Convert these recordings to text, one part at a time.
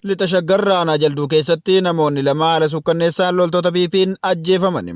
Lixa Shaggar Raanaa Jalduu keessatti namoonni lama haala sukkanneessaan loltoota PP'n ajjeefaman.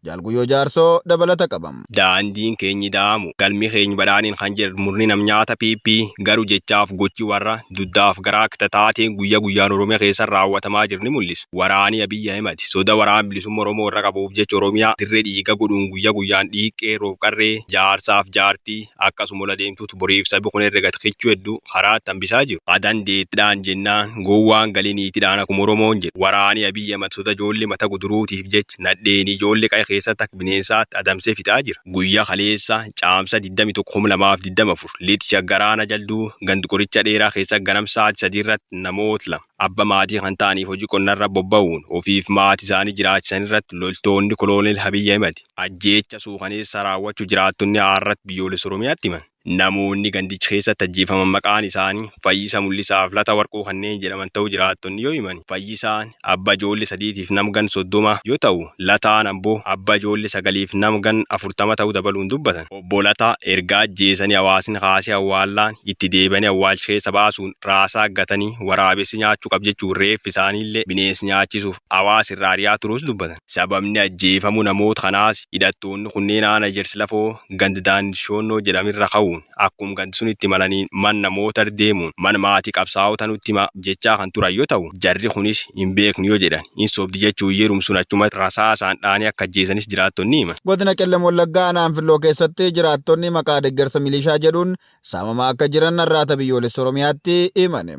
Jaalguyyoo Jaarsoo dabalata qabam. daandiin keenyi da'amu galmi keeny badhaadhin kan jedhu murni nam nyaata PP garuu jechaaf gochi warra duddaaf garaa kita taateen guyya guyyaan Oromiyaa keessa raawwatamaa jiru ni mul'isu. Waraani Abiy Ahimad soda waraan bilisumma Oromoo irra qabuuf jecha Oromiyaa dirre dhiiga godhuun guyya guyyaan dhiig qeerroof qarree, jaarsaaf jaartii akkasuma ol adeemtuutu boriif sabi kun herrega ta kichuu heddu karaatti hambisaa jiru. Ka dandeettidhaan jennaan gowwaan gali niitidhaan akuma Oromoon jedhu waraani Abiy Ahimad soda joolle mata guduruutiif jecha, nadheen ijoollee qa'ee keessatti akka bineensaatti adamsee fixaa jira. Guyyaa kaleessa Caamsaa 21,2024 Lixa Shaggar Aanaa Jalduu ganda Qoricha Dheeraa keessatti ganam sa'aatii 3 irratti namoota lama abba maatii kan ta'aniif hojii qonnarra bobba'uun ofiif maatii isaanii jiraachisan irratti loltoonni Koloneel Abiy Ahimad ajjeecha suukaneessaa raawwachuu jiraattonni Aarrat Biyyoolessa Oromiyaatti himan. Namoonni gandicha keessatti ajjeefaman maqaan isaanii Fayyisa Mul'isaa fi Lata Warquu kanneen jedhaman ta'uu jiraattonni yoo himan, Fayyisaan abba ijoolle sadiitiif nam gan 30 yoo ta'u, Lataan ambo abba ijoolle sagaliif nam gan 40 ta'uu dabaluun dubbatan. Obbo Lataa erga ajjeesanii hawaasni kaasee awwaallaan itti deebi'anii awwaalcha keessa baasuun raasaa gatanii waraabessi nyaachuu qab jechuun reeffi isaaniillee bineensi nyaachisuuf hawaasa irraa ari'aa turuus dubbatan. Sababni ajjeefamuu namoota kanaas hidhattoonni kunneen Aana Ejersi Lafoo gand Daan Shoonnoo jedham irra ka'uun akkum gand sunitti imalaniin manna mootar deemuun man maati qabsaa'ota nutti hima jechaa kan turan yo ta'u jarri kunis hin beeknu yo jedhan hin sobdi jechuun yerum sun achumatti rasaasaan dha'anii akka ajjeesanis jiraattonni himan. Godina Qellem Wallaggaa Aanaa Anfilloo keessatti jiraattonni maqaa deggersa milishaa jedhuun saamamaa akka jiran Arraata Biyyoolessa Oromiyaatti himan.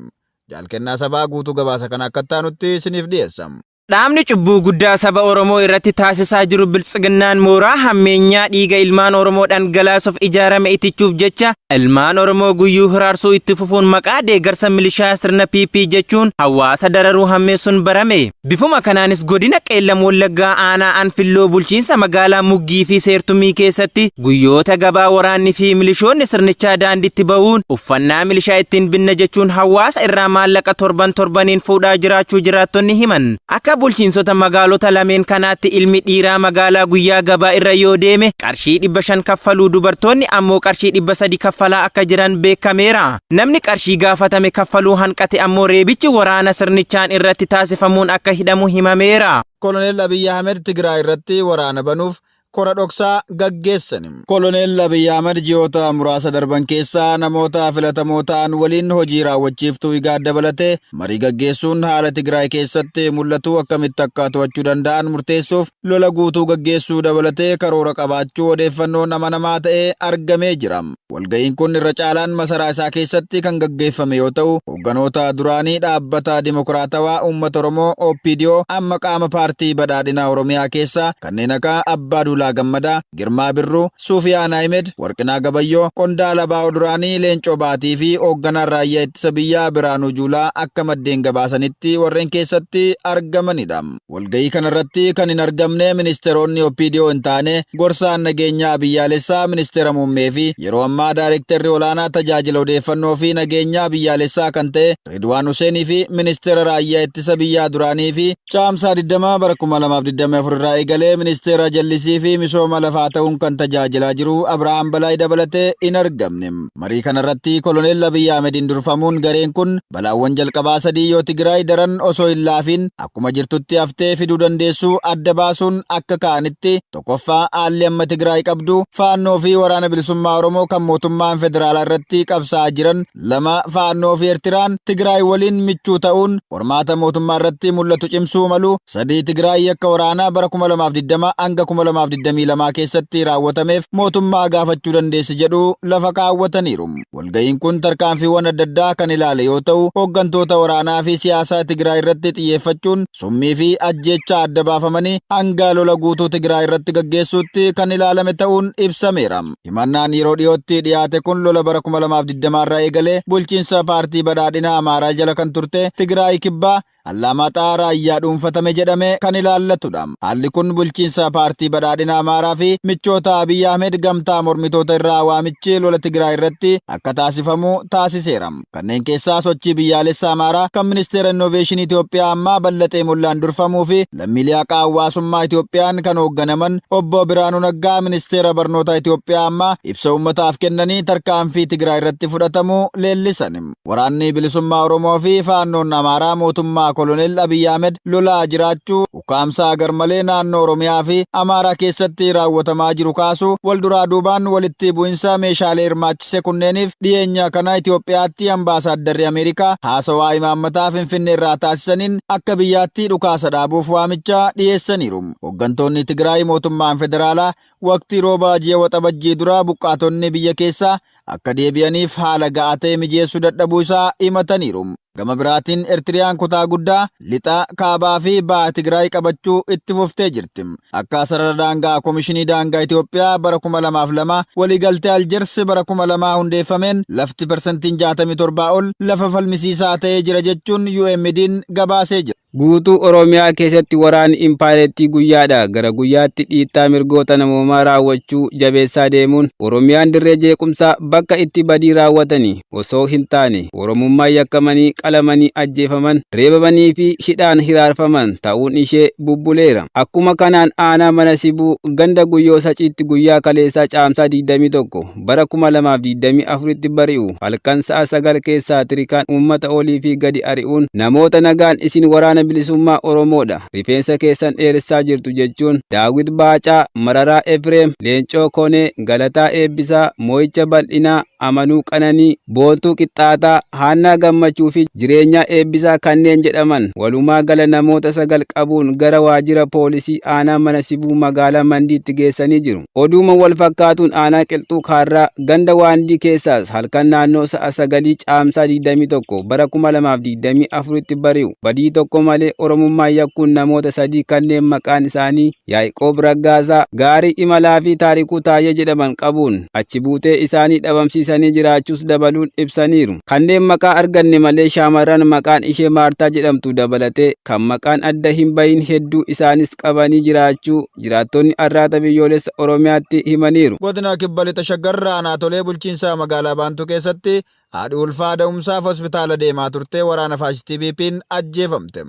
Jaal Kennaa Sabaa guutuu gabaasa kana akka itti aanutti isiniif dhiyeessa. Dhaabni cubbuu guddaa saba Oromoo irratti taasisaa jiru biltsiginnaan mooraa hammeenyaa dhiiga ilmaan Oromoo dhangalaasuuf ijaarame itichuuf jecha ilmaan Oromoo guyyuu hiraarsuu itti fufuun maqaa deeggarsa milishaa sirna PP jechuun hawaasa dararuu hammeessuun barame. Bifuma kanaanis godina Qeellam Wallaggaa aanaa Anfilloo bulchiinsa magaalaa Muggii fi Seertumii keessatti guyyoota gabaa waraanni fi milishoonni sirnichaa daandiitti ba'uun Uffannaa milishaa ittiin binna jechuun hawaasa irraa maallaqa torban torbaniin fuudhaa jiraachuu jiraattonni himan. Akka bulchiinsota magaalota lameen kanaatti ilmi dhiiraa magaalaa guyyaa gabaa irra yoo deeme qarshii 500 kaffaluu dubartoonni ammoo qarshii 300 kaffalaa akka jiran beekameera. Namni qarshii gaafatame kaffaluu hanqate ammoo reebichi waraana sirnichaan irratti taasifamuun akka hidhamu himameera. Koloneel Abiy Ahimed Tigraay irratti waraana banuuf kora dhoksaa gaggeessani. Koloneel Abiy Ahmad ji'oota muraasa darban keessa namoota filatamoo ta'an waliin hojii raawwachiiftuu IGAD dabalatee marii gaggeessuun haala Tigraay keessatti mul'atu akkamitti akka to'achuu danda'an murteessuuf lola guutuu gaggeessuu dabalatee karoora qabaachuu odeeffannoon amanamaa ta'e argamee jira. Walga'iin kun irra caalaan masaraa isaa keessatti kan gaggeeffame yoo ta'u, hoogganoota duraanii Dhaabbata Dimokiraatawaa Uummata Oromoo, OPDO, amma qaama Paartii Badhaadhina Oromiyaa keessaa kanneen akka Abbaa Duulaa Gammadaa, Girmaa Birruu, Suufiyaan Ahimed, Warqinaa Gabayyoo, qondaala abo duraanii Leencoo Baatii fi hoogganaan Raayyaa Ittisa Biyyaa Biraanuu Juulaa akka maddeen gabaasanitti warreen keessatti argamanidha. Walga'ii kanarratti kan hin argamne ministeeronni OPDO hin taane gorsaan nageenyaa biyyaalessaa ministeera muummee fi yeroo ammaa daayirektarri olaanaa tajaajila odeeffannoo fi nageenyaa biyyaalessaa kan ta'e Ridwaan Huseenii fi ministeera raayyaa ittisa biyyaa duraanii fi Caamsaa 20 bara 2024 irraa eegalee ministeera jallisii fi misooma lafaa ta'uun kan tajaajilaa jiru Abirahaam Balaay dabalatee hin argamne. Marii kanarratti koloneel Abiyyi Ahmediin durfamuun gareen kun balaawwan jalqabaa sadii yoo Tigraay daran osoo hin laafiin akkuma jirtutti haftee fiduu dandeessu adda baasuun akka ka'anitti tokkoffaa haalli amma Tigraay qabdu faannoo fi waraana bilisummaa Oromoo kan mootummaan federaalaa irratti qabsaa'aa jiran lama faannoo fi Ertiraan Tigraay waliin michuu ta'uun qormaata mootummaa irratti mul'atu cimsuu malu sadii Tigraay yakka waraanaa bara 2020 hanga 2022 keessatti raawwatameef mootummaa gaafachuu dandeessi jedhu lafa kaawwataniiru. Walga'iin kun tarkaanfiiwwan adda addaa kan ilaale yoo ta'u, hooggantoota waraanaa fi siyaasaa Tigraay irratti xiyyeeffachuun summii fi ajjeechaa adda baafamanii hanga lola guutuu Tigraay irratti gaggeessuutti kan ilaalame ta'uun ibsameera. Himannaan yeroo dhiyootti dhiyaate kun lola bara 2020 irraa eegalee bulchiinsa paartii badhaadhina Amaaraa jala kan turte Tigraay Kibbaa Allaamaaxaa Raayyaa dhuunfatame jedhame kan ilaallatudha. Haalli kun bulchiinsa Paartii Badhaadhina Amaaraa fi michoota Abiy Ahmed gamtaa mormitoota irraa waamichi lola Tigraay irratti akka taasifamu taasiseera. Kanneen keessaa Sochii Biyyaalessa Amaaraa kan Ministeera Innooveeshinii Itoophiyaa ammaa Ballaxee Mollaan durfamuu fi lammiilee haqaa hawwaasummaa Itoophiyaan kan hoogganaman Obbo Biraanuu Naggaa Ministeera Barnootaa Itoophiyaa ammaa ibsa uummataaf kennanii tarkaanfii Tigraay irratti fudhatamu leellisan. Waraanni Bilisummaa Oromoo fi Faannoon Amaaraa mootummaa Koloneel Abiy Ahmed lolaa jiraachuu, ukkaamsaa garmalee naannoo Oromiyaa fi Amaaraa keessatti raawwatamaa jiru kaasuu, wal duraa duubaan walitti bu'insa meeshaalee hirmaachise kunneeniif dhiyeenya kana Itoophiyaatti Ambaasaaddarri Ameerikaa haasawaa imaammataa Finfinneerraa taasisaniin akka biyyaatti dhukaasa dhaabuuf waamicha dhiyeessaniiru. Hoggantoonni Tigraay mootummaan federaalaa waqtii roobaa ji'a Waxabajjii dura buqqaatonni biyya keessaa akka deebi'aniif haala ga'aa ta'e mijeessuu dadhabuu isaa himataniiru. Gama biraatiin Ertiriyaan kutaa guddaa Lixa, Kaabaa fi Baha Tigraay qabachuu itti fuftee jirti. Akka sarara daangaa Komishinii Daangaa Itoophiyaa bara 2002 waliigaltee Aljers bara 2000 hundeeffameen lafti persentiin 67 ol lafa falmisiisaa ta'ee jira jechuun UMDn gabaasee jira. Guutuu Oromiyaa keessatti waraanni impaayerettii guyyaadhaa gara guyyaatti dhiittaa mirgoota namoomaa raawwachuu jabeessaa deemuun Oromiyaan dirree jeequmsaa bakka itti badii raawwatanii osoo hin taane Oromummaan yakkamanii qalamanii ajjeefaman, reebamanii fi hidhaan hiraarfaman ta'uun ishee bubbuleera. Akkuma kanaan aanaa Mana Sibuu ganda Guyyoo Saciitti guyyaa kaleessaa Caamsaa 21, bara 2024tti bari'u halkan sa'a 9 keessaa tirikaan uummata olii fi gadi ari'uun namoota nagaan isin waraana bilisummaa Oromoodha rifeensa keessan dheeressaa jirtu jechuun Daawit Baacaa, Mararaa Efreem, Leencoo Konee, Galataa Eebbisaa, Moo'icha Bal'inaa, Amanuu Qananii, Boontuu Qixxaataa, Haannaa Gammachuu fi Jireenyaa Eebbisaa kanneen jedhaman walumaa gala namoota sagal qabuun gara waajjira poolisii aanaa mana sibuu magaalaa Mandiitti geessanii jiru. Oduuma wal fakkaatuun aanaa Qilxuu Kaarraa ganda Waandii keessaas halkan naannoo sa'a sagalii caamsaa 21 bara 2024tti bari'u badii tokko malee Oromummaa yakkuun namoota sadii kanneen maqaan isaanii Yaa'iqoob Raggaasaa, Gaarii Imalaa fi Taarikuu Taayyee jedhaman qabuun achi buutee isaanii dhabamsiisanii jiraachuus dabaluun ibsaniiru. Kanneen maqaa arganne malee shaamarran maqaan ishee Maartaa jedhamtu dabalatee kan maqaan adda hin bahin hedduu isaanis qabanii jiraachuu jiraattonni Arraata Biyyoolessa Oromiyaatti himaniiru. Godina Kibba Lixa Shaggar aanaa Tolee bulchiinsa magaalaa Baantuu keessatti haadhi ulfaa da'umsaaf hospitaala deemaa turte waraana faashistii PP'n ajjeefamte.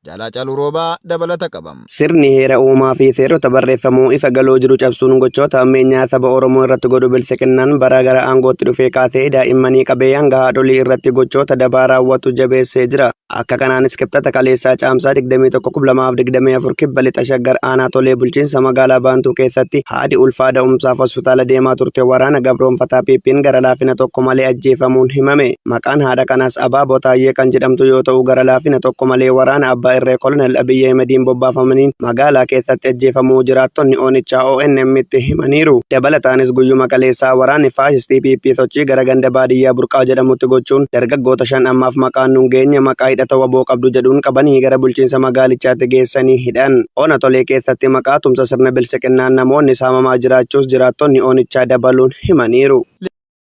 Jaal Haacaaluu Roobaa dabalata qaba. Sirni heera uumaa fi seerota barreeffamoo ifa galoo jiru cabsuun gochoota hammeenyaa saba Oromoo irratti godhu Biltsiginnaan baraa gara aangootti dhufee kaasee daa'immanii qabee hanga haadholii irratti gochoota dabaa raawwatu jabeessee jira. Akka kanaanis Kibxata kaleessaa Caamsaa 21,2024 Kibba Lixa Shaggar Aanaa Tolee Bulchiinsa Magaalaa Baantuu keessatti haadhi ulfaa da'umsaaf hospitaala deemaa turte waraana gabroonfataa PP'n gara laafina tokko malee ajjeefamuun himame. Maqaan haadha kanaas Abaaboo Taayyee kan jedhamtu yoo ta'u gara laafina tokko malee waraana abbaa irree Kolonel Abiy Ahimediin bobbaafamaniin magaalaa keessatti ajjeefamuu jiraattonni oonichaa ONM'tti himaniiru. Dabalataanis guyyuma kaleessaa waraanni faashistii PP sochii gara ganda baadiyyaa Burqaa jedhamutti gochuun dargaggoota shan ammaaf maqaan nun geenye maqaa hidhata wbo qabdu jedhuun qabanii gara bulchiinsa magaalichaatti geessanii hidhan. Ona Tolee keessatti maqaa tumsa sirna bilsiqinnaan namoonni saamamaa jiraachuus jiraattonni oonichaa dabaluun himaniiru.